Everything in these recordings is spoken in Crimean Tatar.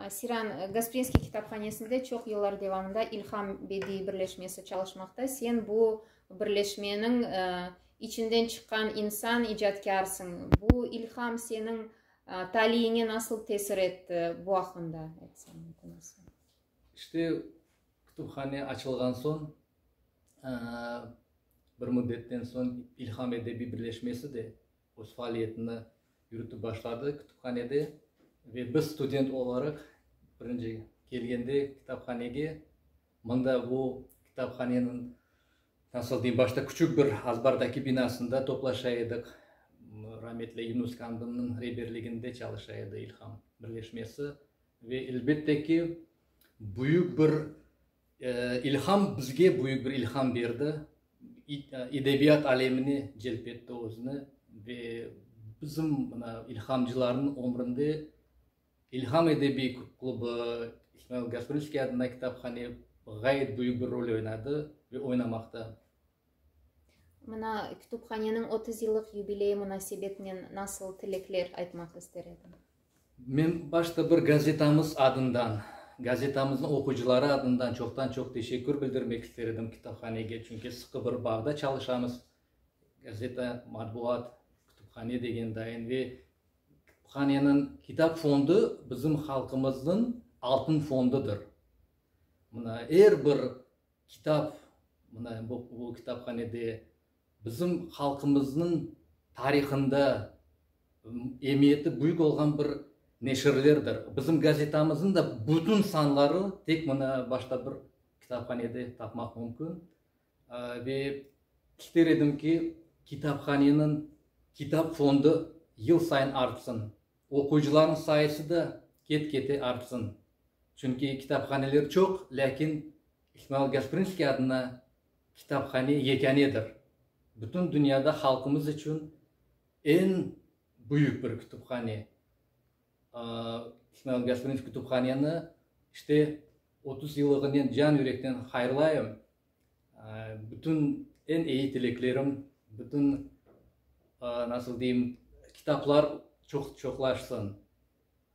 Siran, Gasprinskiy kitaphanesinde çoq yıllar devamında İlham bediiy birleşmesi çalışmaqta. Sen bu birleşmeniñ içinden çıqqan insan, icatkarsıñ. Bu ilham seniñ taliyiñe nasıl tesir etti? Bu aqqında aytsañ. İşte, kütüphane açılğan soñ, bir müddetten soñ İlham edebiy birleşmesi de, öz faaliyetini yürütip başladı kütüphanede ve biz student olaraq birinci kelgende kitaphanege mında bu kitaphaneniñ nasıl deyim başta küçük bir azbardaki binasında toplaşa edik rametli Yunus Kandımnıñ reberliginde çalışa edi İlham birleşmesi ve elbette ki büyük bir İlham, bizge büyük bir ilham berdi, edebiyat alemine celp etti özüni ve bizim mına ilhamcılarnıñ ömründe İlham edebiy klubu, İsmail Gasprinskiy adına kitaphane ğayet büyük bir rol oynadı ve oynamaqta. Mına kütüphaneniñ otuz yıllıq yubileyi munasebetinen nasıl tilekler aytmaq ister ediñ? Men başta bir gazetamız adından, gazetamıznıñ oquyıcıları adından çoqtan-çoq teşekkür bildirmek ister edim kitaphanege, çünki sıqı bir bağda çalışamız. Gazeta, matbuat, kütüphane degen dayın ve kütüphaneniñ kitap fondu bizim halqımıznıñ altın fondudır. Mına er bir Kitap, mına bu bu kitaphanede bizim halqımıznıñ tarihında emiyeti büyük olğan bir neşirlerdir. Bizim gazetamızın da bütün sanları tek mına başta bir kitaphanede tapmaq mümkün. Ve ister edim ki, kitaphaneniñ kitap fondu yıl sayın artsın. Oquyıcılarnıñ sayısı da ket-kete artsın. Çünki kitaphaneler çoq, lâkin İsmail Gasprinskiy adına kitaphane yekânedir. Bütün dünyada halqımız içün eñ büyük bir kütüphane. İsmail Gasprinskiy kütüphaneni işte otuz yıllığınen can-yürekten hayırlayım. Bütün eñ eyi tileklerim, bütün, nasıl deyim, kitaplar çoqlaşsın,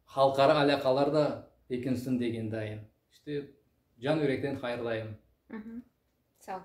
halqara alâqalar da bekinsin degendayım. İşte, can-yürekten hayırlayım. Sağ olun.